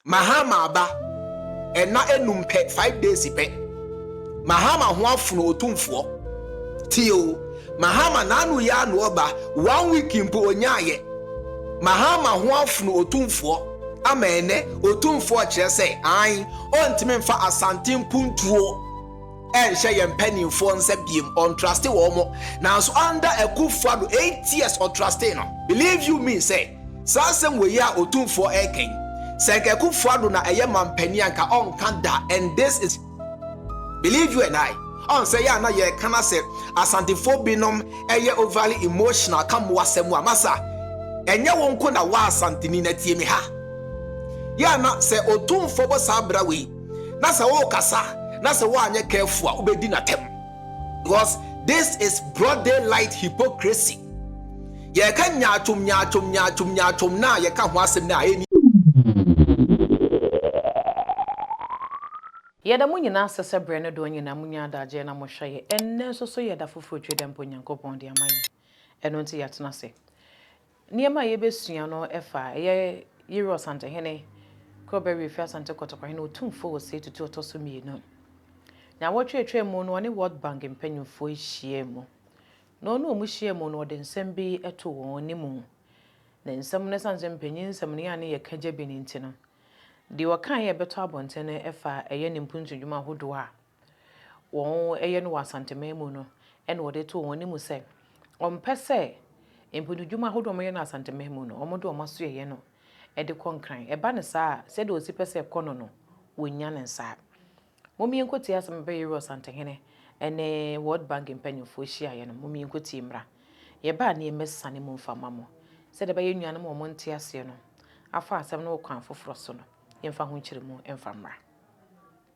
Mahama aba ɛna enum pɛ five days pɛ Mahama ho afono otumfoɔ tie o Mahama n'ano yɛ ano ɔba one week mpo onyaa yɛ Mahama ho afono otumfoɔ ama ɛnɛ otumfoɔ kyerɛ sɛ an ɔntumi nfa Asante mpuntuo. ɛnhyɛ yɛn mpaninfoɔ nsa biom ɔntraste wɔn mo nanso under akufo ado eight years ɔtrastee no believe you me sɛ saa asɛm wei a otumfoɔ ɛɛka yi sɛ nka akufo ado na ɛyɛ manpanin a nka ɔnka da and this is believe you and I ɔn sɛ yɛ a na yɛɛka na sɛ asantefoɔ binom ɛyɛ overly emotional ka mo asɛm a masa ɛnyɛ wo nko na wa asanteni na tie me ha yɛ a na sɛ otumfoɔ bɔ saa bra wei na sɛ wokasa na sɛ woanyɛ careful a wobɛdi no atɛm because this is broad daylight hypocrisy yɛka nyaatwom nyaatwom nyaatwom nyaatwom no a yɛka ho asɛm no a ɛni Yɛda mo nyinaa ase sɛ berɛ no doɔ nyinaa monya adagyeɛ na mohwɛ yɛn. Ɛnnɛ nso so yɛ da foforɔ twi dɛ mpo Nyankopɔn de ama yɛn. Ɛno nti yɛatena ase. Nneɛma a yɛbɛsua no fa ɛyɛ Yere Ɔsantehene Kobere fi Asante Kotoko hene otumfoɔ wɔ sei tutu ɔtɔ so mmienu. Nnawɔtwe a ɛtwaa mu no ɔne World Bank mpanimfoɔ hyiaa mu. Na ɔne wɔn hyiaa mu no ɔde nsɛm bi too wɔn anim. Ne nsɛm no ɛsiane sɛ mpanyin nsɛmni a ne yɛ ka gya bi no nti no, deɛ ɔkaeɛ a ɛbɛtɔ abɔnten no fa ɛyɛ ne mpuntu dwuma ahodoɔ a, wɔyɛ no wɔ Asanteman mu no na wɔde too wɔn anim sɛ wɔmpɛ sɛ mponudwuma ahodoɔ a wɔyɛ no Asanteman mu no wɔde wɔn asoɛeɛ no de kɔ Nkran. Ɛba no saa a, sɛdeɛ ɔsi pɛ sɛ ɛkɔ no no, wɔnnya no nsaa. Mom yɛnkɔtie asɛm a Bɛyere Ɔsantehene ne World Bank mpanimfoɔ hyiaeɛ no. Mom yɛnkɔtie mmra. Yɛba a ne yɛmmɛsane mu mfa mma mo. Sɛdeɛ ɛbɛyɛ nuanom a wɔnte aseɛ no afa asɛm no wɔ kwan foforɔ so no, yɛmfa ho nkyerɛmu mfa mmra.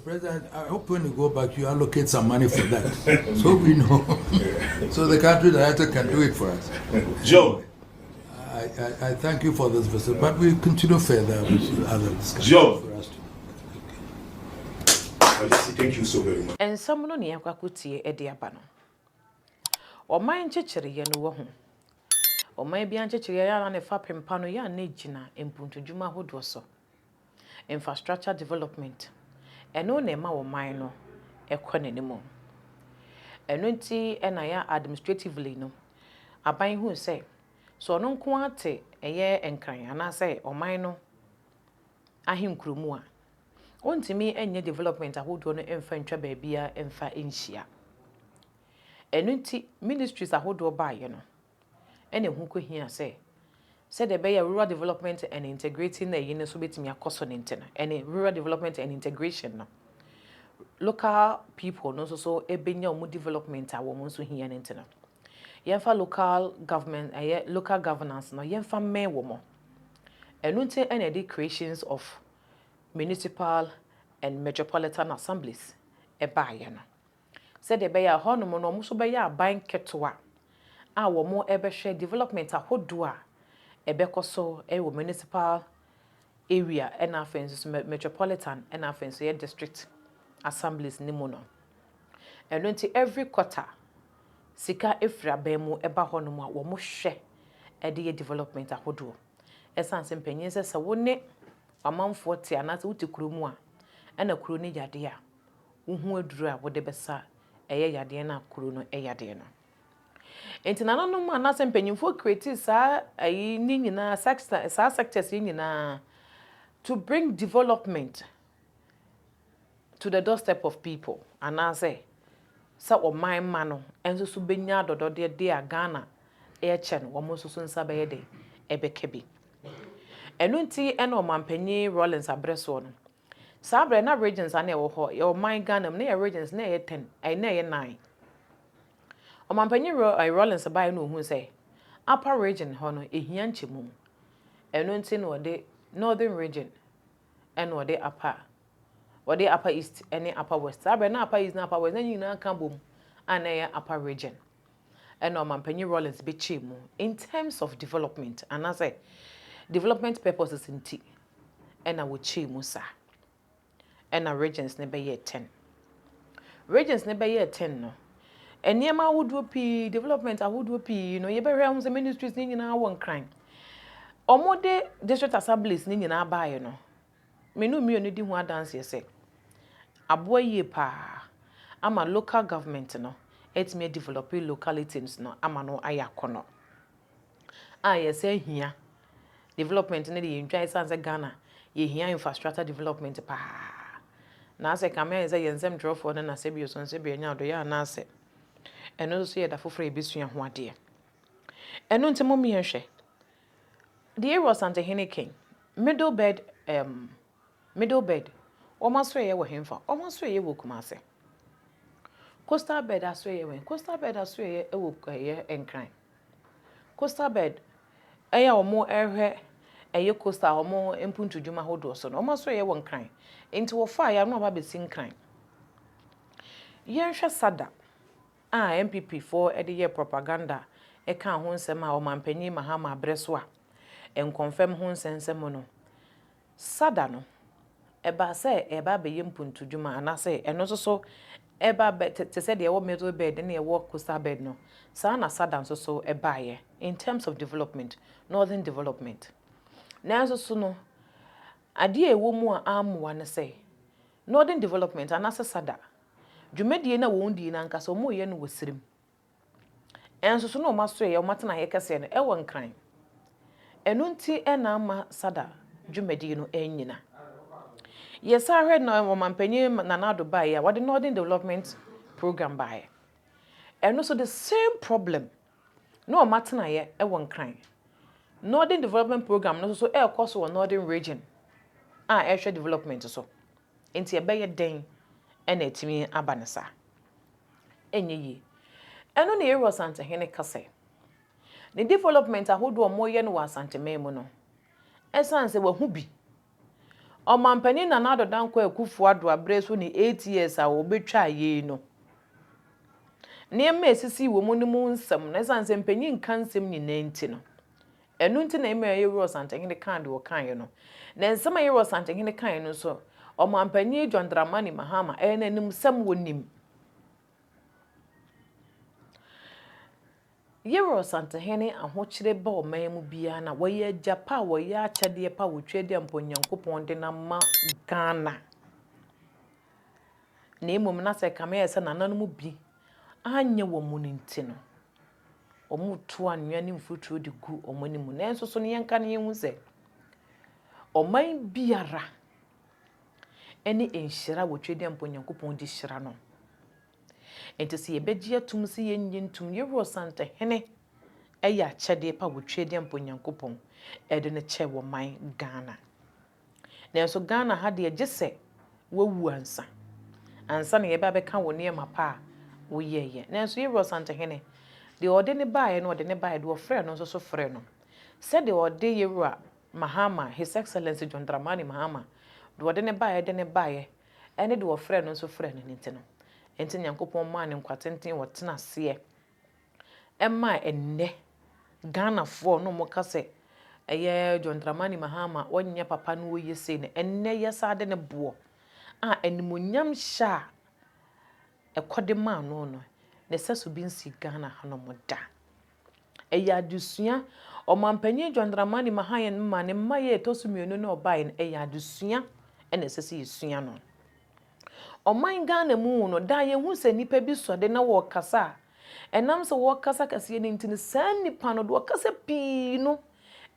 President, I hope when you go back, you allocate some money for that. so we know. so the country director can do it for us. Joe. I, I, I thank you for this visit, but we continue further with other discussions. Joe. Thank you so very much. Nsɛm no nea kwakotie de aba no. Ɔman nkyekyereɛ no wɔ ho. Ɔman bi ankyekyereɛ yɛ na ne fapem pa no yɛ a na gyina mpuntudwuma ahodoɔ so. Infrastructure development, ɛno na ɛma ɔman no kɔ n'anim. Ɛno nti na yɛ a administratively no, aban hu sɛ, sɛ ɔno nko ara te ɛyɛ Nkran anaasɛ ɔman no ahenkuro mu a, ɔntumi nyɛ development ahodoɔ no mfa ntwa baabiara mfa nhyia. Ɛno nti ministries ahodoɔ baeɛ no, Ɛna ɛho kɔhia sɛ, sɛdeɛ ɛbɛyɛ a Rural Development and Integrating na ɛyi no nso bɛtumi akɔ so no nti no, ɛne Rural Development and Integration no, local people no nso so bɛnya wɔn development a wɔn nso hia no nti no, yɛmfa local government, ɛyɛ local governance no, yɛmfa mmɛn wɔn. Ɛno nti ɛna ɛde creations of Municipal and Metropolitan Assemblies baeɛ no. sɛdeɛ ɛbɛyɛ a hɔnom no wɔn nso bɛyɛ aban ketewa a wɔbɛhwɛ development ahodoɔ a ɛbɛkɔ so wɔ municipal area na afei nso metropolitan na afei nso yɛ district assemblies no mu no. Ɛno nti every quarter sika firi aban mu ba hɔnom a wɔhwɛ de yɛ development ahodoɔ. Ɛsiane sɛ mpanin sɛ sɛ wo ne w'amanfoɔ te anaasɛ wote kuro mu a ɛna kuro no yɛ adeɛ a, wo ho aduru a wode bɛsa ɛyɛ yadeɛ no a kuro no yadeɛ no. Nti nananom anaasɛ mpanyinfoɔ create saa ayi ne nyinaa sector saa sectors yi nyinaa to bring development to the doorstep of people anaasɛ sɛ ɔman mma no nso so bɛnya adɔdɔdeɛ deɛ a Ghana ɛkyɛ no wɔn nso so nsa bɛyɛ dɛ ɛbɛka bi. Ɛno nti ɛna ɔmanpanyin Rawlings abrɛ soɔ no Saa berɛ na regions a na ɛwɔ hɔ, yɛwɔ ɔman Ghana mu, na yɛ regions na ɛyɛ ten, ɛɛ na ɛyɛ nnan. Ɔmanpanyin Ro ɛɛ Rawlings baeɛ na ɔhuu sɛ Upper region hɔ no ɛhia nkyɛmu, ɛno nti na ɔde Northern region ɛna ɔde Upper, ɔde Upper East ɛne Upper West, saa berɛ na Upper East ne Upper West na ne nyinaa ka bom a na ɛyɛ Upper region. Ɛna Ɔmanpanyin Rawlings bɛkyɛɛ mu in terms of development anaasɛ development purposes nti ɛna wɔkyɛɛ mu saa. Ɛna Regents no bɛyɛɛ ten. Regents no bɛyɛɛ ten no, nneɛma ahodoɔ pii, development ahodoɔ pii no, yɛbɛhwɛ ho sɛ ministries no nyinaa wɔ nkran. Wɔde district assemblies no nyinaa baeɛ no, me no mmienu di ho adanseɛ sɛ, aboa yie paa ama local government no atumi adevelope localities no ama no ayɛ akɔnnɔ. a yɛsan hia development no de yɛntwa ɛsiane sɛ Ghana yɛhia infrastructure development paa na asɛ kame ayɛ sɛ yɛn nsɛm twerɛfoɔ no na sɛbi ɔsɔn sɛbi anya ɔdɔyɛ anaasɛ ɛno nso yɛ da foforɔ a yɛbɛsua ho adeɛ ɛno nti mo mmea hwɛ deɛ Erosante hene kɛn Middlebed um, Middle Bed, wɔn asoɛeɛ wɔ henfa? Wɔn asoɛeɛ wɔ Kumase. Coastal Bed asoɛeɛ wɔ he? Coastal Bed asoɛeɛ wɔ ɛyɛ Nkran. Coastal Bed ɛyɛ a wɔhwɛ ɛyɛ coastal wɔn mpuntudwuma ahodoɔ so no, wɔn asoɛeɛ wɔ Nkran. Nti wɔfaaeɛ a na wɔaba abɛsi Nkran. Yɛnhwɛ SADA a NPP foɔ de yɛɛ propaganda kaa ho nsɛm a Ɔmanpanin Mahama berɛ so a nkɔmfɛm ho nsɛnsɛm no, Sada no, ɛbaa sɛ ɛreba abɛyɛ mpuntudwuma anaasɛ ɛno nso so ɛreba abɛ te te sɛ deɛ ɛwɔ middle belt ne ɛwɔ coastal belt no, saa na Sada nso so baeɛ in terms of development, northern development. Nanso so no, adeɛ a ɛwɔ mu a ammoa ne sɛ, northern development anaasɛ Sada, dwumadie no a wɔdii no ankasa wɔreyɛ no wɔ serem Nso so na wɔasoɛe a wɔatenaeɛ kɛseɛ no wɔ Nkran. Ɛno nti na amma SADA dwumadie no annyina. Yɛsan hwɛ na Ɔmanpanin Nana Addo baeɛ a, wɔde Northern Development Programme baeɛ. Ɛno nso the same problem, na wɔatenaeɛ wɔ Nkran. Northern Development Programme no nso so ɛrekɔ so wɔ Northern Region a ɛrehwɛ development so. Nti ɛbɛyɛ dɛn na atumi aba no saa? ɛnyɛ yie. Ɛno na Yeiru Asantehene ka sɛ, ne development ahodoɔ a wɔreyɛ no wɔ Asanteman mu no, ɛsiane sɛ wahu bi. Ɔmampanin Nana Addo Dankwa Akufo-Addo aberɛ so ne eight years a ɔbɛtwaa yei no, nneɛma a ɛsisii wɔ mu no mu nsɛm no, ɛsiane sɛ mpanin nka nsɛm nyinaa nti no, Ɛno nti na Emir Yewura Ɔsantehene kaa deɛ ɔkaeɛ no. Na nsɛm a Yewura Ɔsantehene kaeɛ no nso, Ɔmanpanin John Dramani Mahama, ɛyɛ n'animsɛm, wɔnim. Yewura Ɔsantehene ahokyere ba ɔman mu biara no a, wɔyɛ agya pa a wɔyɛ akyɛdeɛ pa a wɔtwa adi a mpo Nyankopɔn de no ama Ghana. Na mmom na sɛ kame ayɛ sɛ nananom bi anyɛ wɔn no nti no. wɔretu anwea ne mfuturo de gu wɔn anim. Nanso so no yɛnka no yɛhu sɛ ɔman biara ne nhyira wɔ Twɛdeɛ Mpo Nyankopɔn de hyira no. Nti sɛ yɛbɛgye atum sɛ yɛnyɛ ntum, yɛwura Ɔsantehene ɛyɛ akyɛdeɛ pa wɔ Twɛdeɛ Mpo Nyankopɔn ɛde no kyɛ wɔ man Ghana. Nanso Ghana ha deɛ gye sɛ wawu ansa ansa na yɛba bɛka wo nneɛma pa a woyɛeɛ. Nanso Yero Asantehene, deɛ ɔde no baeɛ no ɔde no baeɛ, deɛ ɔfrɛɛ no nso so frɛɛ no. Sɛdeɛ ɔde Yewura Mahama, His Excellency John Dramani Mahama, deɛ ɔde no baeɛ de no baeɛ ne deɛ ɔfrɛɛ no nso frɛɛ no no nti no, enti Nyankopɔn maa no nkwa tenten ɔtena aseɛ ɛma ɛnnɛ Ghanafoɔ na wɔn ka sɛ ɛyɛ John Dramani Mahama ɔnyɛ papa na ɔyɛ sei no ɛnnɛ yɛsan de no boɔ a animonyam hyɛ a ɛkɔde maa no no ne sɛso bi nsi Ghana hanom da ɛyɛ adesua ɔmanpanyin John Dramani Mahama ne mma yɛ ɛtɔ so mmienu na ɔbaeɛ no ɛyɛ adesua ɛna ɛsɛ sɛ yɛsua no. Ɔman Ghana mu no, daa yɛhu sɛ nnipa bi sɔ de na wɔkasa a, ɛnam sɛ wɔkasa kɛseɛ no nti no, saa nnipa no, deɛ ɔkasa pii no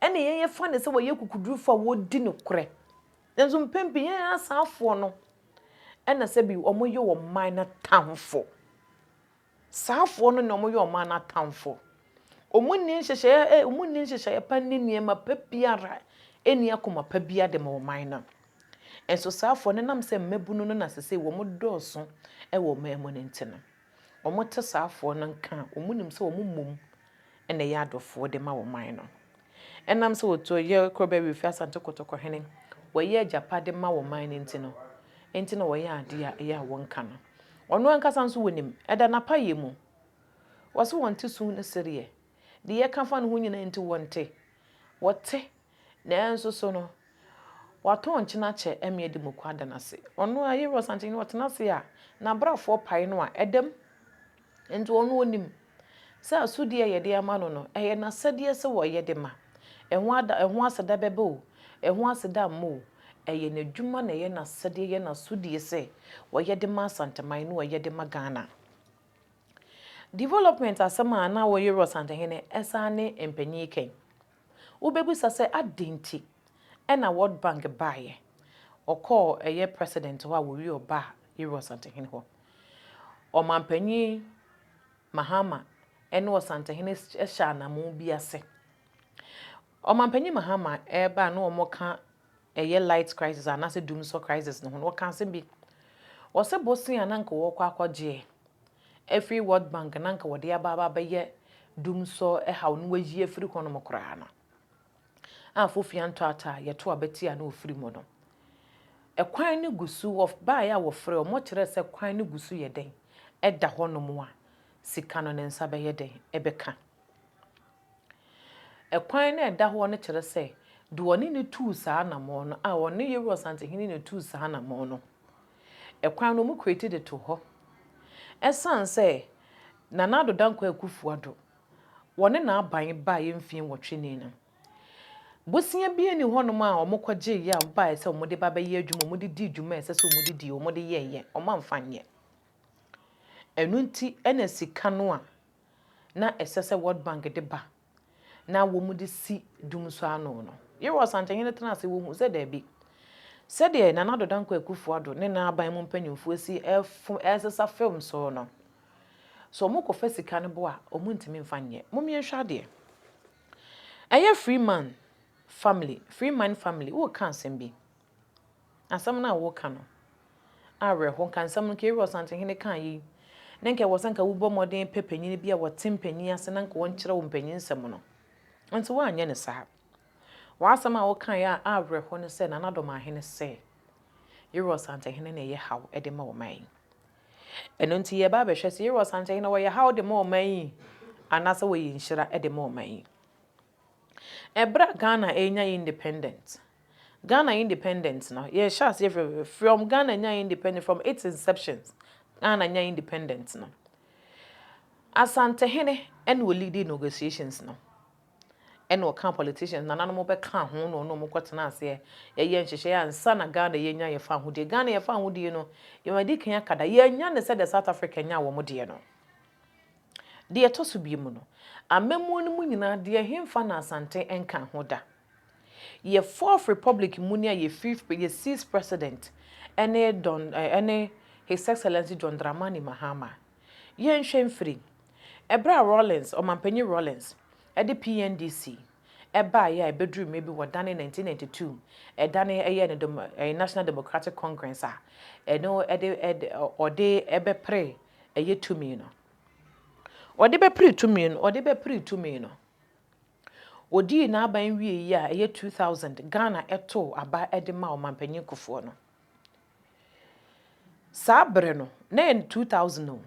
na yɛfa no sɛ wɔyɛ akokodurufoɔ a wɔdi nokorɛ. Nanso mpɛn pii yɛn asaafoɔ no na sɛbi wɔyɛ wɔn man no atamfo. Saafoɔ no na wɔyɛ ɔman no atamfo. Wɔnni nhyehyɛeɛ, wɔnni nhyehyɛeɛ pa nni nneɛma pa biara nni akoma pa biara de ma ɔman no. Nso saafoɔ no ɛnam sɛ mmabunu no na sesei wɔdɔɔso wɔ ɔman mu no nti no, wɔte saafoɔ no nka a, wɔnim sɛ wɔmmom na ɛyɛ adɔfoɔ de ma wo man no. Ɛnam sɛ wɔtuo yɛ Kɔbɛ Wifi Asante Kotoko hene, wɔyɛ agyapade ma wo man no nti no, nti na wɔyɛ adeɛ a ɛyɛ a wɔnka no. Ɔno ankasa nso wɔnim, ɛda n'apayɛ mu. Wɔse wɔnte su ne sereɛ. Deɛ yɛka fa ne ho nyinaa nti wɔnte. Wɔte Nanso so no, wɔatɔn nkyena kyɛ amia de moko ada no ase. Ɔno a, Yehowa Sankyerɛni no, ɔtena ase a, n'abrɛfoɔ pae no a, ɛda mu. Enti ɔno ɔnim sɛ asodie a yɛde ama no no, ɛyɛ n'asɛdeɛ sɛ ɔyɛ de ma. Ɛho ada, ɛho aseda bɛba o, ɛho aseda mma o, ɛyɛ n'adwuma na ɛyɛ n'asɛdeɛ, ɛyɛ n'asodie sɛ ɔyɛ de ma Asanteman ne ɔyɛ de ma Ghana. Development asɛm a na ɔyɛ Yehowa Sankyerɛni no, ɛsan ne mpanin kan. Wobɛbisa sɛ adɛn nti na World Bank baeɛ? Ɔkɔɔ ɛyɛ President hɔ a wɔwie ɔbaa Yeru Ɔsantehene hɔ. Ɔmanpanin Mahama ne Ɔsantehene hyɛ anamoo bi ase. Ɔmanpanin Mahama ɛreba a na wɔka ɛyɛ light crisis anaasɛ dumsɔ crisis no ho no, ɔka asɛm bi. Ɔse bosea a na anka wɔkɔ akɔgye afiri World Bank na anka wɔde aba aba abɛyɛ dumsɔ haw no wɔayi afiri hɔnom koraa no, a Fofia Ntoata a yɛto aba tia no ɔfiri mu no, kwan no gu so, wɔbaeɛ a wɔfrɛɛ wɔn, wɔkyerɛɛ sɛ kwan no gu so yɛ dɛn, ɛda hɔnom a, sika no ne nsa bɛyɛ dɛn bɛka. Kwan no a ɛda hɔ no kyerɛ sɛ deɛ ɔne no tuu saa anammɔn no, a ɔne Yeroboam Asantehene na tuu saa anammɔn no, kwan no wɔn create de too hɔ. Ɛsiane sɛ Nana Addo Dankwa Akuffo Addo, wɔne n'aban baeɛ mfeɛ nwɔtwe ni no, bosea biara nni hɔnom a wɔkɔgyeeɛ a wɔbaeɛ sɛ wɔde ba bɛyɛ adwuma, wɔde dii dwuma a ɛsɛ sɛ wɔde die, wɔde yɛeɛ, wɔamfa nyɛ. Ɛno nti na sika no a na ɛsɛ sɛ World Bank de ba na wɔde si dum so ano no, Yerwa Ɔsantehene tenaa ase, wɔhuu sɛ daabi, sɛdeɛ Nana Addo Dankwa Akufo-Addo ne n'aban mu mpanimfoɔ asi resesa film so no, sɛ wɔkɔfa sika no bo a, wɔntumi mfa nyɛ. Mom yɛnhwɛ adeɛ. Ɛyɛ Freeman family, Freeman family, woka asɛm bi. Asɛm no a woreka no, awerɛhow. Nka nsɛm no, nka eyi Ɔsantehene kaa eyi, na nka ɛwɔ sɛ nka wobɔ mmɔden pɛ panyin bi a ɔte mpanyin ase na nka ɔnkyerɛ wo mpanyinsɛm no. Nanso woanyɛ no saa. W'asɛm a wokae a awerɛhow ne sɛ Nana Domahene sɛ Yerua Ɔsantehene na ɛyɛ haw de ma ɔman yi. Ɛno nti yɛreba abɛhwɛ sɛ Yerua Ɔsantehene ɔyɛ haw de ma ɔman yi anaasɛ ɔyɛ nhyira de ma ɔman yi. Ɛberɛ a Ghana renya independent, Ghana independent no, yɛhyɛ aseɛ frɛfrɛfrɛ, from Ghana nyaa independent, from its inception, Ghana nyaa independent no, Asantehene ɛna ɔliidi negotiations no, ɛna ɔkaa politicians, nananom bɛkaa ho na ɔne wɔn kɔtenaa aseɛ, yɛyɛɛ nhyehyɛeɛ ansa na Ghana yɛnya yɛn fahodie. Ghana yɛn fahodie no, yɛadi kan aka da, yɛannya no sɛdeɛ South Africa nyaa wɔn deɛ no. Deɛ ɛtɔ so biemu no, amammuo no mu nyinaa deɛ ɛhemfa na Asante nka ho da? Yɛ fourth republic muni a yɛ fifth pre yɛ sixth president ɛne Don ɛne His Excellency John Dramani Mahama. Yɛnhwɛ mfiri ɛberɛ a Rawlings, Ɔmanpanyin Rawlings, ɛde PNDC ɛbaeɛ a ɛbɛduru mmerɛ bi wɔdanee nineteen ninety two ɛdanee ɛyɛɛ no demo ɛɛ National Democratic Congress a ɛno ɛde ɛde ɔde ɛbɛpere ɛyɛ tumi no. Ɔde bɛpere tumi no, ɔde bɛpere tumi no. Ɔdii n'aban wie yi a ɛyɛ 2000, Ghana ɛtoo aba de maa Ɔmanpanyin Kufuor no. Saa bere no, na ɛyɛ 2000 o,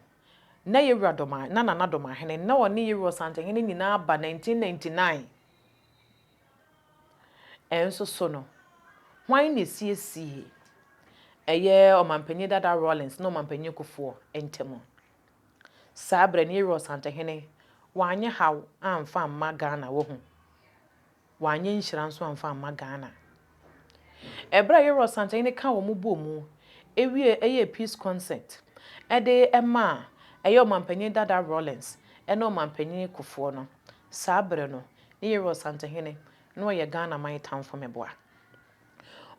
na Yewura Dɔm, na Nana Dɔmahene, na ɔne Yewura Ɔsantehene nyinaa ba 1999. Ɛnso so no, hwan na esiesiee ɛyɛ Ɔmampanyin Dada Rawlings ne Ɔmampanyin Kufuor ntam? Saa bere no, Yoweri Ɔsantehene wanyɛ haw amfa amma Ghana, wahu? Wanyɛ nhyira nso amfa amma Ghana. Ɛberɛ a Yoro Asantehene kaa wɔn bɔɔ mu wiee ɛyɛɛ Peace Concert de maa ɛyɛ Ɔmanpanin Dada Rawlings ne Ɔmanpanin Kufuor no, saa berɛ no ne Yoro Asantehene na ɔyɛ Ghana man tamfo meboa.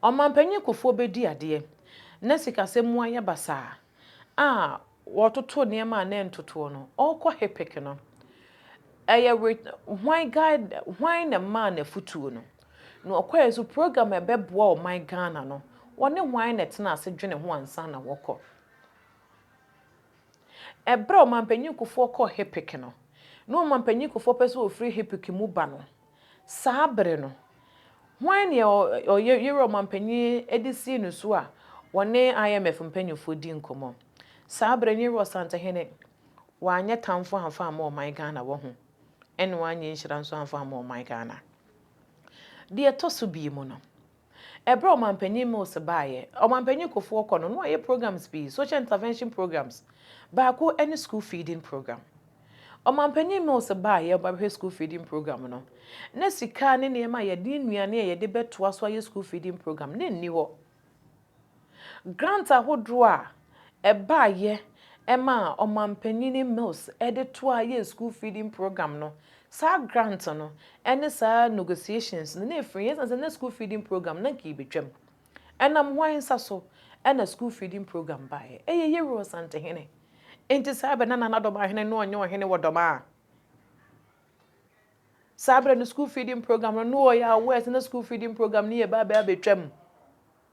Ɔmanpanin Kufuor bɛdi adeɛ na sikasɛm mu ayɛ basaa. a wɔtoto nneɛma a na ɛntotoɔ no, ɔrekɔ Hepek no, ɛyɛ were hwan guide hwan na ɛmaa no afutuo no? Na ɔkɔɛ nso program a ɛbɛboa ɔman Ghana no, wɔne hwan na ɛtena ase dwene ho ansa na wɔkɔ? Ɛberɛ a Ɔmanpanyin Kufoɔ kɔɔ Hepek no, na Ɔmanpanyin Kufoɔ pɛ sɛ ɔfiri Hepek mu ba no, Saa bere no, hwan ne ɔyɛ yerɛ ɔmampanyin de sii no so a wɔne IMF mpanyimfo di nkɔmmɔ? Saa bere no, yerɛ ɔsantehene wanyɛ tamfo amfa amma ɔman Ghana wɔ ho, ɛne wanyɛ nhyira nso amfa amma ɔman Ghana. Deɛ ɛtɔ so bio mu no, Ɛberɛ a Ɔmanpanyin Mills baeɛ, Ɔmanpanyin Kufuor kɔ no, na wayɛ programs pii, social intervention programs, baako ne school feeding program. Ɔmanpanyin Mills baeɛ a ɔreba abɛhwɛ school feeding program no, na sika ne nneɛma a yɛde, nnuane a yɛde bɛtoa so ayɛ school feeding program no nni hɔ. Grant ahodoɔ a ɛbaeɛ maa Ɔmanpanin Mills de toaa yɛɛ school feeding programme no, saa grant no ne saa negotiations no na ɛfiri yɛn ɛsiane sɛ na school feeding programme no na anka yɛbɛtwam. Ɛnam hwan nsa so na school feeding programme baeɛ? Ɛyɛ Yero Asantehene. Enti saa berɛ no na Nana Dɔmahene no ɔnyɛ ɔhene wɔ Dɔmaa. Saa berɛ no school feeding programme no na ɔyɛ aware sɛ na school feeding programme no yɛ bɛabɛ abɛtwam.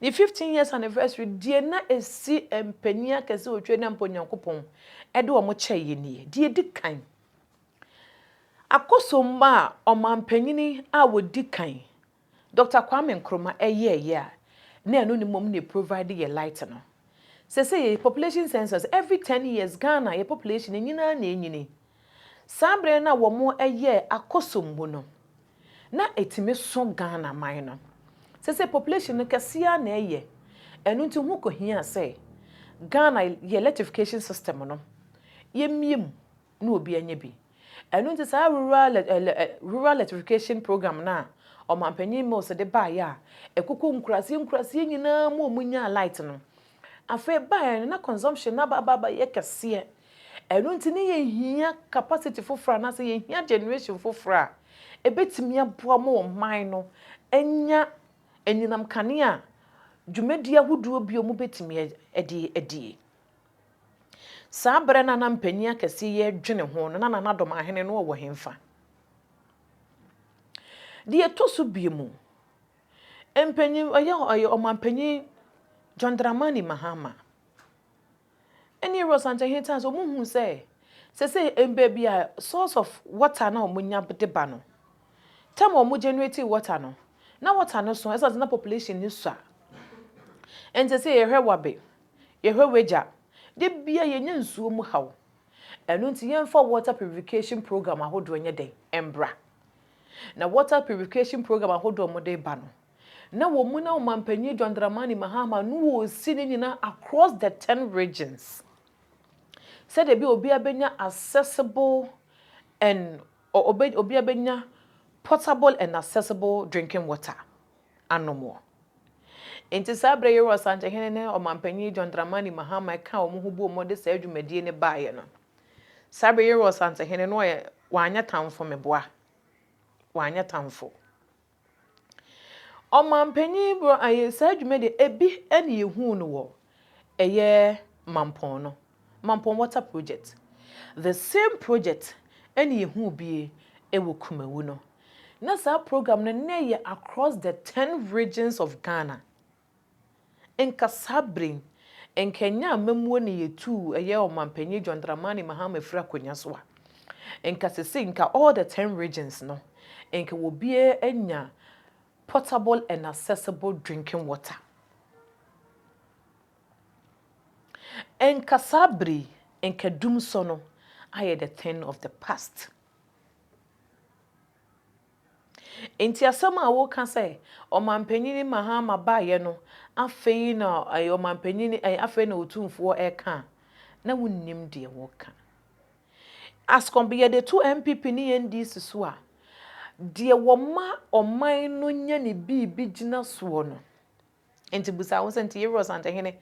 Ne fifteen years anniversary deɛ na ɛsi mpanin akɛse wɔ Tweri na mpo Nyankopɔn ɛde wɔn kyɛɛ yɛ nie. Deɛ ɛdi kan, akosomma a ɔmanpanyini a wɔdi kan, Doctor Kwame Nkrumah ɛyɛɛyɛ a na ɛno ne mmom na ɛprovide yɛ light no. Sɛsɛ yɛ population census, every ten years Ghana yɛ population no nyinaa na ɛnyini. Saa berɛ no a wɔn ɛyɛɛ akosombo no, na ɛtumi so Ghana man no. Sɛsɛ population no kɛseɛ ara na ɛyɛ, ɛno nti ho kɔhia sɛ Ghana yɛ electrification system no yɛmmie mu na obiara nya bi. Ɛno nti saa rural rural electrification program no a Ɔmanpanin Mills de baeɛ a ɛkokɔ nkuraseɛ nkuraseɛ nyinaa mu a wɔnyaa light no, afei baeɛ no na consumption no aba aba abɛyɛ kɛseɛ. Ɛno nti na yɛhia capacity foforɔ anaasɛ yɛhia generation foforɔ a ɛbɛtumi aboa ma ɔman no anya anyinam kanea a dwumadie ahodoɔ bi a wɔbɛtumi de adie. Saa berɛ no a na mpanin akɛseɛ yi redwene ho no, na Nana Dom Ahene no ɔwɔ hefa? Deɛ ɛtɔ so biom, mpanin, ɔyɛ ɔyɛ ɔmanpanin John Dramani Mahama. Ɛnneɛ Rose Ankyɛhe taa sɛ wɔhunu sɛ seesei baabi a source of water no a wɔnya de ba no, time a wɔn generate water no, na water no so ɛsiane sɛ na population no sua. Ɛnti seesei yɛhwɛ Wabe, yɛhwɛ Wagya, da biara yɛnya nsuo mu haw. Ɛno nti yɛmfa water purification program ahodoɔ nyɛ dɛn? Mbra. Na water purification program ahodoɔ a wɔde ba no, na wɔ mu na Ɔmanpanyin John Dramani Mahama no wɔ si ne nyina across the ten regions sɛdeɛ ɛbɛyɛ obiara bɛnya accessible and obiara bɛnya portable and accessible drinking water anomoɔ. Nti saa berɛ Yero Asankyehene ne Ɔmanpanyin John Dramani Mahama ɛkaa wɔn ho boom wɔde saa dwumadie no baeɛ no, saa berɛ Yero Asankyehene no ɔyɛ wanyɛ tamfo meboa, wanyɛ tamfo. Ɔmanpanyin bro ayɛ saa dwuma deɛ ɛbi na yɛhuu no wɔ ɛyɛ Mampɔn no Mampɔn water project the same project na yɛhuu bi wɔ Kumawu no na saa program no na ɛyɛ across the ten regions of Ghana Nka saa bere yi, nka ɛnyɛ amammuo na yɛtuu ɛyɛ Ɔmanpanyin John Dramani Mahama firi akonnwa so a, nka seesei nka all the ten regions no, nka obiara anya portable and accessible drinking water. Nka saa bere yi, nka dumsɔ no ayɛ the thing of the past. Enti asɛm a woka sɛ ɔmanpanyin Mahama baeɛ no afei na ɔmanpanyin afei na otumfoɔ ɛka a, na wonnim deɛ woka. As compa yɛde to NPP ne NDC so a, deɛ wɔma ɔman no nya ne biribi gyina soɔ no, Enti bisa wo sɛ, Nti Yɛwura Ɔsantehene,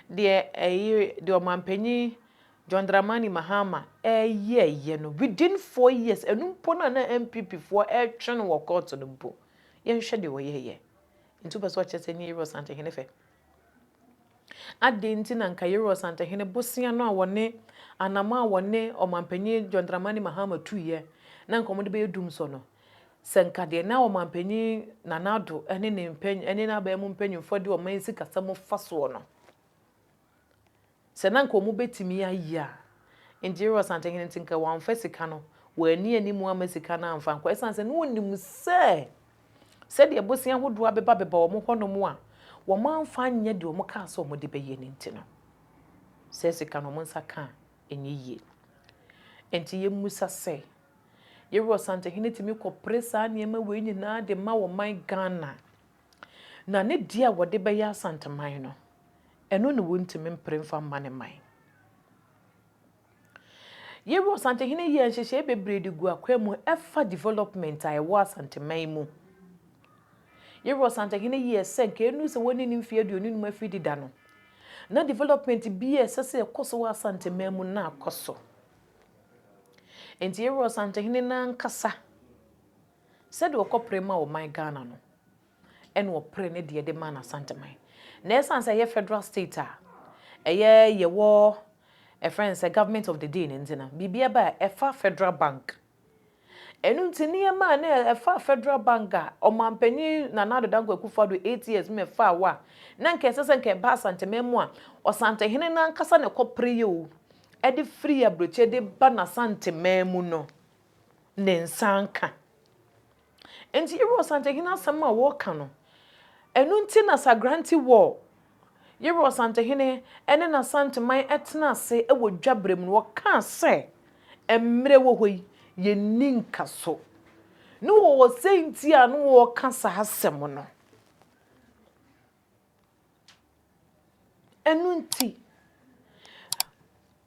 deɛ ɛyi, deɛ Ɔmanpanyin John Dramani Mahama yɛɛyɛ no within four years, ɛno mpo no a na NPP foɔ retwe no wɔ court no mpo, yɛnhwɛ deɛ ɔyɛɛyɛ. Nti wopɛ sɛ ɔkyerɛ sɛ ɛnyɛ Yɛwura Ɔsantehene fɛ? Adɛn nti na nka Yɛwura Ɔsantehene bosea no a wɔne, anamɔ a wɔne Ɔmanpanyin John Dramani Mahama tuiɛ, na nka wɔde bɛyɛ dumsɔ no, Sɛ nka deɛ na Ɔmanpanin Nana Addo ne ne mpanyin ne n'aban mu mpanyinfoɔ de ɔman sikasɛm fa soɔ no, sɛ na nka wɔbɛtumi ayɛ a, Ngyero Asantehene nti nka wɔamfa sika no, wɔanni anim amma sika no amfa ankɔ ɛsiane sɛ na wɔnim sɛ sɛdeɛ bosea ahodoɔ abeba beba wɔn hɔnom a, wɔamfa anyɛ deɛ wɔkaa sɛ wɔde bɛyɛ no nti no, saa sika no wɔn nsa ka a, ɛnyɛ yie. Nti yɛmmisa sɛ. Yeru Ɔsantehene tumi kɔpere saa nneɛma wei nyinaa de ma ɔman Ghana. Na ne deɛ a wɔde bɛyɛ Asanteman no, ɛno na wɔntumi mpere mfa mma ne man. Yeru Ɔsantehene yɛɛ nhyehyɛe bebree de gu akwan mu ɛfa development a ɛwɔ Asanteman mu. Yeru Ɔsantehene yɛɛ sɛ nka ɛnu sɛ wɔne ne mfeɛ aduonu num afiri deda no, na development bi a ɛsɛ sɛ ɛkɔ so wɔ Asanteman mu na akɔ so. Enti yɛwura Ɔsantehene no ankasa, sɛdeɛ ɔkɔpere ma ɔman Ghana no, ɛna ɔpere ne deɛ de ma n'Asanteman. Na ɛsiane sɛ ɛyɛ federal state a, ɛyɛ yɛwɔ ɛfrɛ no sɛ government of the day no nti no, biribiara ba a ɛfa federal bank, Ɛno nti nneɛma a na ɛfa Federal Bank a Ɔmanpanin Nana Addo Dankwa Akufo-Addo eight years mu ɛfaa hɔ a na anka ɛsɛ sɛ anka ɛba Asanteman mu a Ɔsantehene no ankasa na ɛkɔpereɛ o ɛde firi Aburokyire de ba n'Asanteman mu no ne nsa anka. Enti Yerua Ɔsantehene asɛm a wɔka no, ɛno nti na Sagrante wɔ Yerua Ɔsantehene ne n'Asanteman tena ase wɔ dwa berɛ mu no, wɔkaa sɛ, Mmerɛ wɔ hɔ yi, yɛnni nkaso. Ne wɔwɔ sɛ nti a na wɔka saa asɛm no. Ɛno nti,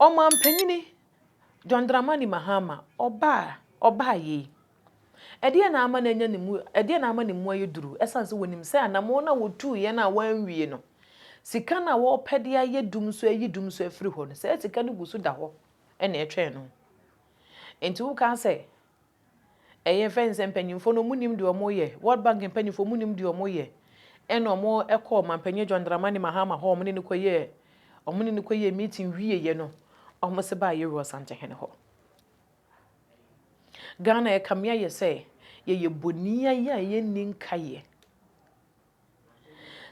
Ɔmanpanin John Dramani Mahama ɔbaa ɔbaa yei. Ɛdeɛn na ama no anya ne mu ɛdeɛn na ama ne mu ayɛ duru? Ɛsiane sɛ wɔnim sɛ anammɔn no a wɔtuiɛ no a wɔanwie no, sika no a wɔrepɛ de ayɛ dum nso ayi dum nso afiri hɔ no, saa sika no gu so da hɔ na ɛtwɛn no. Enti woka sɛ ɛyɛ fɛn sɛ mpanyimfo no wɔn nim deɛ wɔn yɛ world bank mpanyimfo wɔn nim deɛ wɔn yɛ ɛna wɔn ɛkɔ ɔmanpanyin John Dramani Mahama hɔ wɔn ne no kɔ yɛ wɔn ne no kɔ yɛ meeting wie yɛ no wɔn se baa yɛ wura Ɔsantehene hɔ Ghana ɛkame ayɛ sɛ yɛyɛ bɔni ayɛ a yɛnni nka yɛ.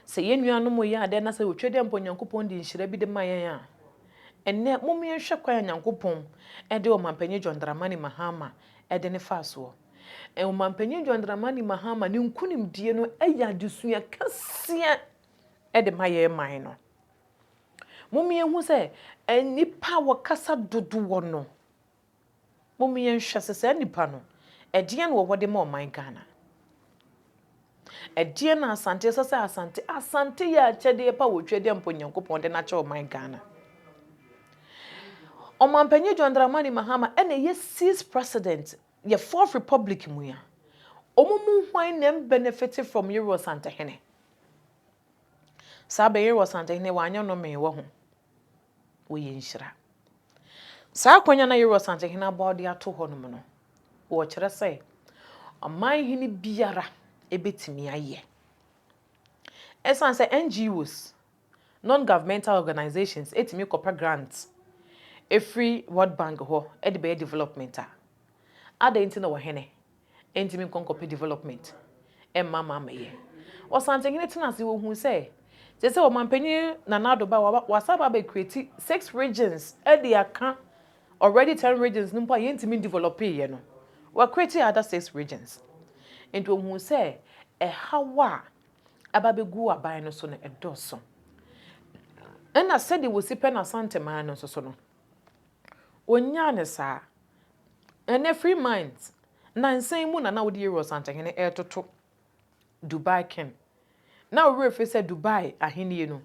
Sɛ yɛn nuanom yɛ ade anaasɛ wɔtwa dua mpo a Nyankopɔn de nhyira bi de ma yɛn a, ɛnnɛ momma yɛnhwɛ kwan a Nyankopɔn de Ɔmampanyin John Dramani Mahama de no faa soɔ. Ɔmampanyin John Dramani Mahama ne nkunimdie no yɛ adesua kɛseɛ de ma yɛn man no. Momma yɛnhu sɛ nnipa a wɔkasa dodoɔ no, Mom yɛnhwɛ sɛ saa nipa no ɛdeɛn na ɔwɔ de ma ɔman Ghana? Ɛdeɛn na Asante ɛsɛ sɛ Asante Asante yɛ akyɛdeɛ pa wɔ Otwadeɛ mpo Nyankopɔn de no akyɛ ɔman Ghana? Ɔmanpanyin John Dramani Mahama ɛna ɛyɛ sixth president yɛ fourth republic mu ya. Ɔmo mu hwan na ɛmbenefite from Yero Asantehene? Saa bɛ Yero Asantehene wanyɛ nomee wɔ ho? wɔyɛ nhyira. Saa akonnwa na Yeroboam Asantehene abɔ de ato hɔ nom no, wɔkyerɛ sɛ ɔman hene biara bɛtumi ayɛ. Ɛsan sɛ NGOs, non-governmental organizations, ɛtumi kɔpɛ grant ɛfiri World Bank hɔ de bɛyɛ development a, adɛn nti na ɔhene Ɛntumi nkɔ nkɔpɛ development mma ma ammɛyɛ. Ɔsantehene tenaa ase, ɔhuu sɛ seesei Ɔmanpanin Nana Addo ba a, wasan aba abɛcreate six regions de aka already ten regions no mpo a yɛntumi ndevelɔpeeɛ no, wacreate other six regions. Nti ɔhuu sɛ ɛhaw a aba abɛgu aban no so no, ɛdɔɔso. Ɛnna sɛdeɛ wɔsi pɛ no Asanteman no nso so no, Ɔnyaa no saa. Ɛnnɛ free mind, nansa yi mu na na wode Yɛwura Ɔsantehene retoto Dubai King. Na wo werɛ firi sɛ Dubai ahennie no,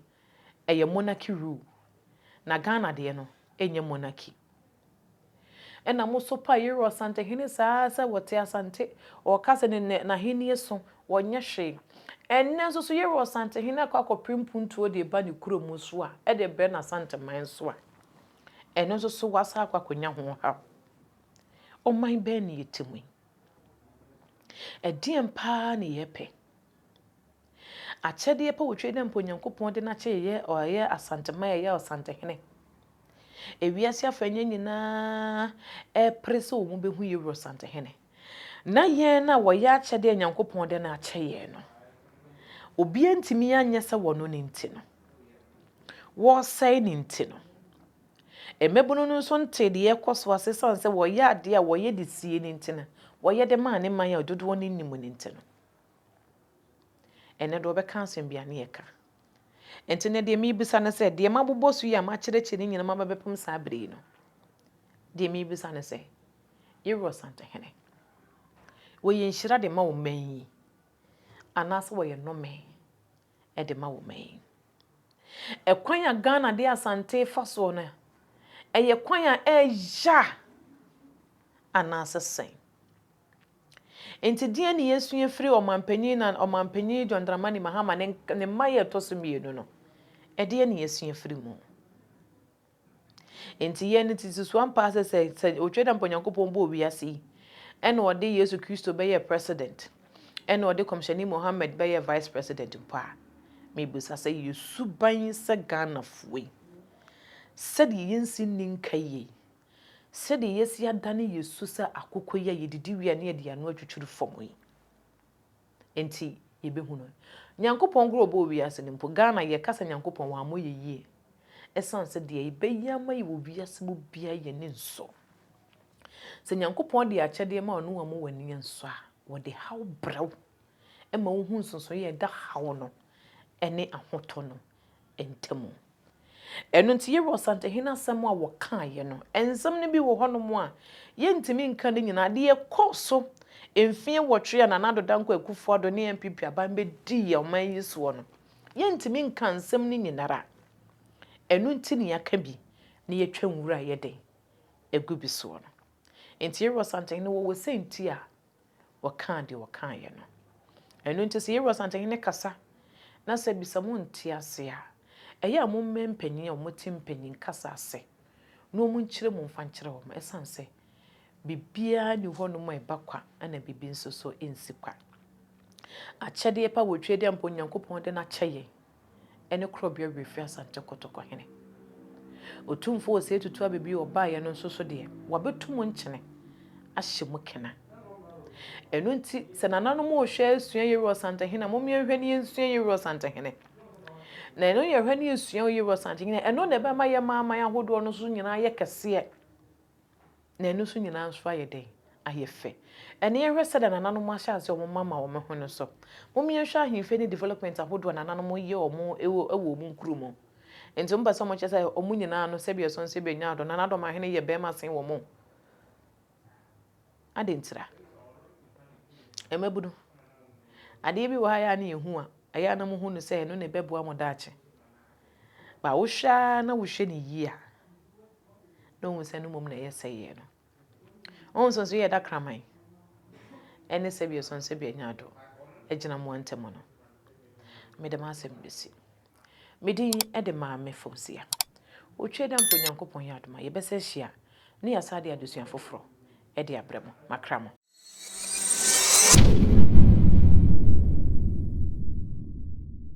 ɛyɛ monarchy rule. Na Ghana deɛ no, ɛnyɛ monarchy. Ɛna mo so paa Yɛwura Ɔsantehene saa ara sɛ ɔte Asante, ɔreka sɛ ne nɛ n'ahennie so, ɔnyɛ hwee. Ɛnnɛ nso so Yɛwura Ɔsantehene akɔ akɔpere mpuntuo de reba ne kurom nso a, ɛde rebrɛ n'Asanteman nso a. Ɛno nso so woasan akɔ akɔnya ho haw. Ɔman bɛn na yɛte mu yi? Ɛdeɛn paa na yɛpɛ? Akyɛdeɛ pa wɔtwɛ dɛ mpo Onyankopɔn de no akyɛ yɛyɛ ɔyɛ Asantema yɛyɛ Ɔsantehene. Ewiase afa nyɛ nyinaa ɛrepere sɛ wɔn bɛhu yɛ Wura Ɔsantehene. Na hɛn a wɔyɛ akyɛdɛ a Nyankopɔn dɛ no akyɛ hɛn no, obiara nntumi annyɛ sɛ wɔno no ntsi no, wɔresɛɛ no ntsi no. Mbabun no so nntee dza ɔrokɔ so ase osian sɛ wɔyɛ adze a wɔyɛ dze sie no ntsi na wɔyɛ dɛ maa ne man a dodow no nnyi no ntsi no. Ndɛ do wɔbɛka asɛm bi a ne yɛka. Ntsi ndɛ deɛ mibisa no sɛ, deɛ mabobɔ so yi a makyerɛkyerɛ ne nyina maba bɛpem saa ber yi no, deɛ mibisa no sɛ, Yɛwura Ɔsantehene, wɔyɛ nhyira de ma wo man yi anaasɛ wɔyɛ nnome de ma wo man yi? Ɛkwan a Ghana de Asante fa soɔ no, ɛyɛ kwan a ɛya anaasɛ sɛn? Nti deɛ ne yɛsua firi ɔmanpanyin na ɔmanpanyin John Dramani Mahama ne ne mma yɛ ɛtɔ so mmienu no, ɛdeɛ ne yɛsua firi mu? Enti yɛn no tete so ampa ara sɛ sɛ sɛ otwa dɛ mpo Nyankopɔn bɔɔ wiase yi ɛna ɔde Yesu Kristo bɛyɛɛ president ɛna ɔde Kɔmhyɛni Mohammed bɛyɛɛ vice president mpo a, mebisa sɛ yɛ suban sɛ Ghanafoɔ yi sɛdeɛ yɛnsi nni nka yie yi, sɛdeɛ yɛasi adane yɛ su sɛ akokoyɛ a yɛdidi wie a ne yɛde yɛn ano atwitwiri fam yi, nti yɛbɛhu no. Nyankopɔn koraa ɔbɔɔ wiase no mpo, Ghana yɛkasa Nyankopɔn wammɔ yɛ yie ɛsiane sɛ deɛ yɛbɛyɛ ama yɛ wɔ wiase mu biara yɛn ani nsɔ. Sɛ Nyankopɔn de akyɛdeɛ ma wo na wammu w'ani ansɔ a, wɔde haw brɛ wo ɛma wohu nsonsonoeɛ a ɛda haw no ne ahotɔ no ntamu. Ɛno nti, yɛwɔ Ɔsantehene asɛm a wɔkaeɛ no. Nsɛm no bi wɔ hɔnom a, yɛntumi nka ne nyinaa. Deɛ ɛkɔɔ so mfeɛ nwɔtwe a Nana Addo Dankwa Akufo-Addo ne NPP aban bɛdii yɛn ɔman yi soɔ no, yɛntumi nka nsɛm no nyinara. Ɛno nti na yɛaka bi na yɛatwa nwura a ɛyɛ den agu bi soɔ no. Nti yɛwɔ Ɔsantehene, wɔwɔ sɛ nti a wɔkaa deɛ wɔkaeɛ no. Ɛno nti sɛ yɛwɔ Asantehene kasa na sɛ bisa mo nte ase a, ɛyɛ a mo mmɛ mpanin a wɔte mpanin kasa ase na wɔn nkyerɛ mu mfa nkyerɛ wɔn ɛsiane sɛ biribiara nni hɔ nom a ɛba kwa na biribi nso so ɛnsi kwa. Akyɛdeɛ pa wɔ Twedeɛ mpo Nyankopɔn de no akyɛ yɛn. ne Korɔbea Werɛ Fi Asante Kotoko hene. Otumfoɔ Osei Tutu Abɛbi a ɔbaeɛ no nso so deɛ, wɔabɛtu mu nkyene ahyɛ mu kena. Ɛno nti, sɛ nananom rehwɛ asua Yeru Ɔsantehene a, mom yɛnhwɛ na yɛnsua Yeru Ɔsantehene. Na ɛno yɛhwɛ na yɛsua Yeru Ɔsantehene a, ɛno na ɛbɛma yɛma aman ahodoɔ no nso nyinaa ayɛ kɛseɛ. Na ɛno nso nyinaa nso ayɛ dɛn? Ayɛ fɛ. Ɛnde yɛnhwɛ sɛdeɛ nananom ahyɛ aseɛ wɔn mma ma wɔn ho no so. Mom yɛnhwɛ ahemfie ne development ahodoɔ a nananom yɛ wɔn wɔ wɔ wɔn nkuro mu. Nti wɔn pɛ sɛ wɔn kyerɛ sɛ wɔn nyinaa no sɛbi ɛsɔ nso ebi nya adɔ. Nanadɔm ahene yɛ barima sen wɔn o. Adɛn ntira? Mmabunu. Adeɛ bi wɔ ha yɛ a na yɛhu a, ɛyɛ a na mo hu no sɛ ɛno na ɛbɛboa mo daakye. Ba wohwɛ ara na wohwɛ no yie a, na ohu sɛ no mmom na ɛyɛ sɛeɛ no. Wo nsonso yɛ da kraman, ɛne sɛbi osonso bi anya ado agyina mo ntam no. Mede m'asɛm bɛsi. Me din de Maame Fausia. Otwa da mpo Nyankopɔn yɛ adom a, yɛbɛsa ahyia na yɛasa ade adesua foforɔ de abrɛ mo. Makra mo.